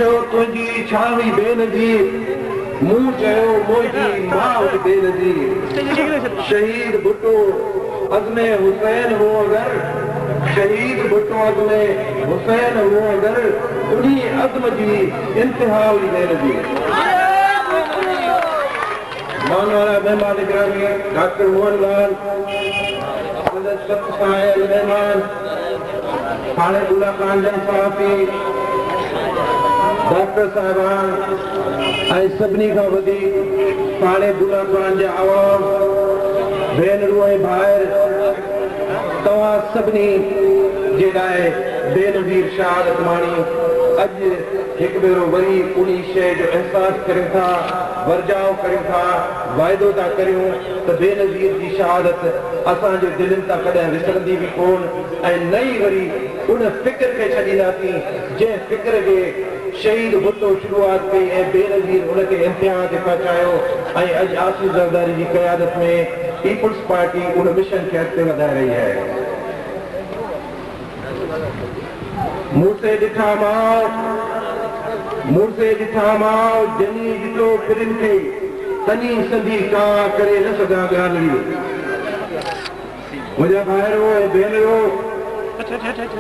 چيو تنهنجي ڇا هئي بينظير، مون چيو منهنجي ماء هئي بينظير، شهيد ڀٽو عزم حسين هو اگر، شهيد ڀٽو عزم حسين هو اگر، انهي عزم جي انتها هئي بينظير. مان وارا مهمان گرامي ڊاڪٽر موهن لال سندس ست ساهيل مهمان ساڻي ٻولا خان جا صحافي ڊاڪٽر صاحبان ۽ سڀني کان وڌيڪ ساڻي ٻولا خان جا عوام ڀينرون ۽ ڀائر توهان سڀني جي لاء بينظير شهادت ماڻي اڄ هڪ ڀيرو وري انهي شيء جو احساس ڪريون ٿا ورجاء ڪريون ٿا، واعدو ٿا ڪريون ته بينظير جي شهادت اسان جي دلين تان ڪڏهن وسرندي به ڪون ۽ نه ئي وري ان فڪر کي ڇڏينداسين جنهن فڪر جي شهيد ڀٽو شروعات ڪئي ۽ بينظير ان کي انتها تي پهچايو ۽ اڄ آصف زرداري جي قيادت ۾ پيپلز پارٽي ان مشن کي اڳتي وڌائي رهي آهي. مون تي ڏٺا ماء، مون تي ڏٺا ماء، جني ڏتو پرين کي، تني سندي ڪا ڪري نه سگهان ڳالهڙي. منهنجا ڀائرو ۽ ڀينرو،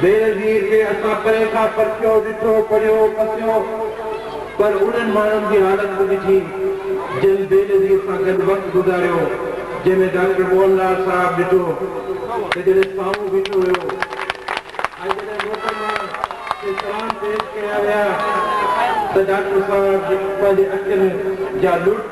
بينظير کي اسان پري کان پرچيو، ڏٺو، پڙهيو، پسيو. پر انهن ماڻهن جي حالت به ڏٺي، جن بينظير سان گڏ وقت گذاريو، جنهن ۾ ڊاڪٽر موهن لال صاحب ڏٺو ته جڏهن سامهون بيٺو هيو ۽ جڏهن محترمه کي سلام پيش ڪيا ويا ته ڊاڪٽر صاحب پنهنجي اکين جا لڙڪ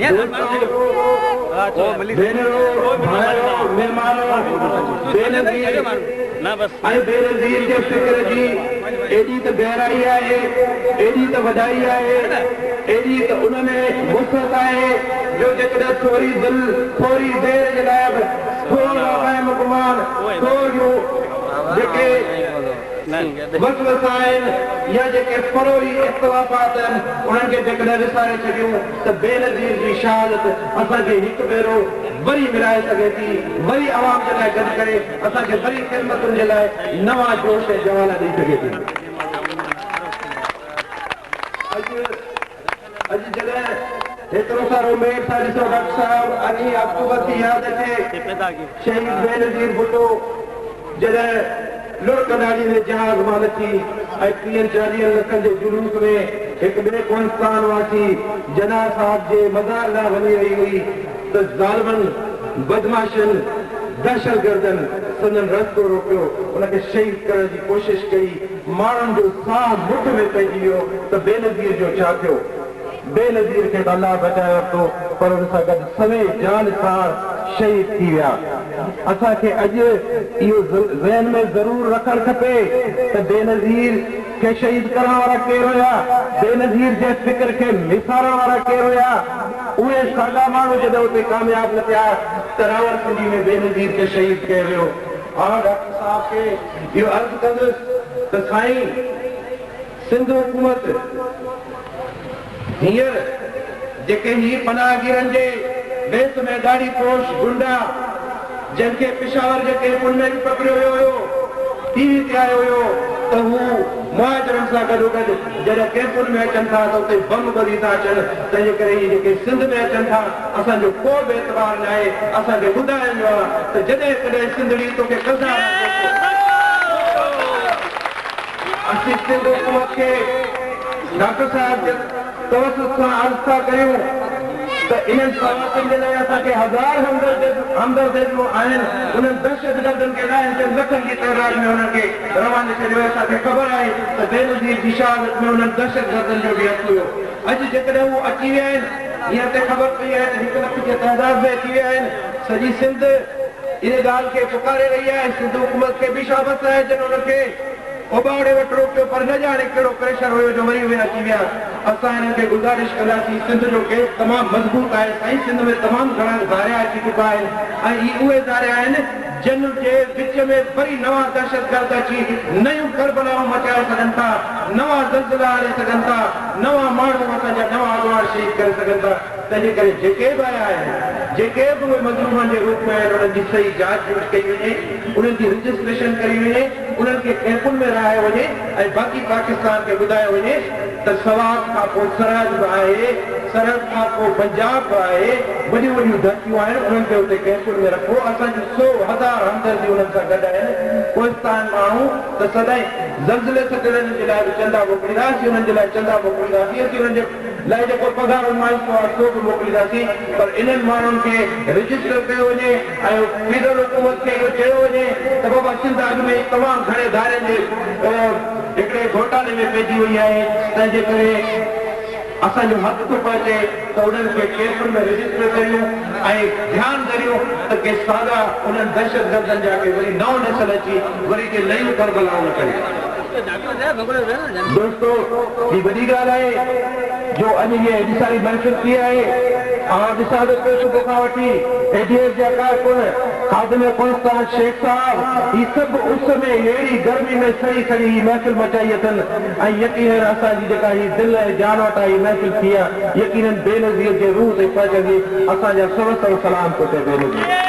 دوستو، ڀينرو، ڀائرو، مھمانو، بي نظير ۽ بي نظير جي فڪر جي ايڏي ته گهرائي آهي، ايڏي ته وڏائي آهي، ايڏي ته ان ۾ وسعت آهي جو جيڪڏهن ٿوري دل، ٿوري دير جي لاء به ٿورو وهم گمان، ٿور جون جيڪي وسوسا آهن يا جيڪي فروعي اختلافات آهن، انهن کي جيڪڏهن وساري ڇڏيون. ته بينظير جي شهادت اسان کي هڪ ڀيرو وري ملائي سگهي ٿي، وري عوام جي لاء گڏ ڪري اسان کي وري خدمتن جي لاء نوان جوش ۽ جوالا ڏئي سگهي ٿي. اڄ اڄ جڏهن هيترو سارو ميڙ ٿا ڏسو ڊاڪٽر صاحب انهي آڪٽوبر جي ياد کي شهيد بينظير ڀٽو جڏهن لڙڪ ڏاڙهي ۾ جهاز مان لٿي ۽ ٽيهن چاليهن لکن جي جلوس ۾ هڪ ٻئي ڪونستان واسي جناح صاحب جي مزار ڏانهن وڃي رهي هئي ته ظالمن، بدمعاشن، دهشتگردن سندن رستو روڪيو، ان کي شهيد ڪرڻ جي ڪوشش ڪئي، ماڻهن جو ساهه مٺ ۾ پئجي ويو ته بينظير جو ڇا ٿيو؟ بينظير کي ته الله بچائي ورتو پر ان سان گڏ سوين جانثار شهيد ٿي ويا. اسان کي اڄ اهو ذهن ۾ ضرور رکڻ کپي ته بينظير کي شهيد ڪرڻ وارا ڪير هيا، بينظير جي فڪر کي ميسارڻ وارا ڪير هيا. اهي ساڳا ماڻهو جڏهن اتي ڪامياب نه ٿيا ته راولپنڊي ۾ بينظير کي شهيد ڪيو ويو. آئون ڊاڪٽر صاحب کي اهو عرض ڪندس ته سائين! سنڌ حڪومت هينئر جيڪي هي پناهگيرن جي ڀيس ۾ ڏاڙهي پوش گنڊا جن کي پشاور جي ڪئمپن ۾ به پڪڙيو ويو هيو ٿي هي ٿي آيو هيو ته هو مهاجرن سان گڏوگڏ جڏهن ڪئمپن ۾ اچن ٿا ته اتي بم ٻري ٿا اچن تنهنجي ڪري هي جيڪي سنڌ ۾ اچن ٿا اسان جو ڪو به اعتبار ناهي اسان کي ٻڌايو ويو آهي ته جڏهن ڪڏهن سنڌڙي توکي قضا لاء ڪو اسين سنڌ حڪومت کي ڊاڪٽر صاحب جي توسط سان عرض ٿا ڪريون ته انهن خواتين جي لاء اسان کي هزار همدرديون آهن انهن دهشتگردن کي نه جن لکن جي تعداد ۾ انهن کي رواني ڇڏيو اسان کي خبر آهي ته بينظير جي شهادت ۾ انهن دهشتگردن جو به هٿ هيو اڄ جيڪڏهن هو اچي ويا آهن جيئن ته خبر پئي آهي ته هڪ لک جي تعداد ۾ اچي ويا آهن سڄي سنڌ ان ڳالهه کي پڪاري رهي آهي سنڌ حڪومت کي به شابس آهي جن انهن کي اوٻاڙي وٽ روڪيو پر نه ڄاڻي ڪهڙو پريشر هيو جو وري اهي اچي ويا. اسان هنن کي گذارش ڪنداسين سنڌ جو گيٽ تمام مضبوط آهي سائين سنڌ ۾ تمام گهڻا ذاريا اچي چڪا آهن ۽ هي اهي ذاريا آهن جن جي وچ ۾ وري نوان دهشت گرد اچي نيون ڪربلائون مچائي سگهن ٿا نوان زلزلا آڻي سگهن ٿا نوان ماڻهو اسان جا نوان اڳواڻ شهيد ڪري سگهن ٿا. تنهن ڪري جيڪي به آيا آهن، جيڪي به اهي مظلومن جي روپ ۾ آهن انهن جي صحيح جاچ بوچ ڪئي وڃي، انهن جي رجسٽريشن ڪئي وڃي، انهن کي ڪئمپن ۾ رهايو وڃي ۽ باقي پاڪستان کي ٻڌايو وڃي ته سوات کانپوء سرحد به آهي، سرحد کانپوء پنجاب به آهي، وڏيون وڏيون ڌرتيون آهن انهن کي اتي ڪئمپن ۾ رکو، اسان جون سو هزار همدرديون انهن سان گڏ آهن، ڪوهستان ماڻهو ته سدائين زلزلي سٽيل انهن جي لاء به چندا موڪليندا، اسين انهن جي لاء چندا موڪلينداسين، اسين انهن جي. لاء جيڪو پگهارن مان ئي سوا ٻيو به موڪلينداسين پر انهن ماڻهن کي رجسٽر ڪيو وڃي ۽ فيڊرل حڪومت کي اهو چيو وڃي ته بابا سنڌ اڳ ۾ ئي تمام گهڻي ڌارين جي هڪڙي گهوٽالي ۾ پئجي وئي آهي تنهن جي ڪري اسان جو حق ٿو پهچي ته انهن کي ڪيسن ۾ رجسٽر ڪريون ۽ ڌيان ڌريون ته ڪي ساڳا انهن دهشتگردن جا ڪي وري نئون نسل اچي وري ڪي نيون ڪربلائون نه ڪري. دوستو هي وڏي ڳالهه آهي جو اڄ هيء ايڏي ساري محفل ٿي آهي. آئون ڏسان ٿو ڪي صبح کان وٺي اي ڊي ايف جا ڪارڪن، خادم قلستان شيخ صاحب هي سڀ اس ۾ ههڙي گرمي ۾ سڙي سڙي هي محفل مچائي اٿن ۽ يقينن اسان جي جيڪا هي دل ۽ جان وٽان هي محفل ٿي آ يقينن بينظير جي روح تائين پهچندي اسان جا سو سو سلام ڪتي بينظير.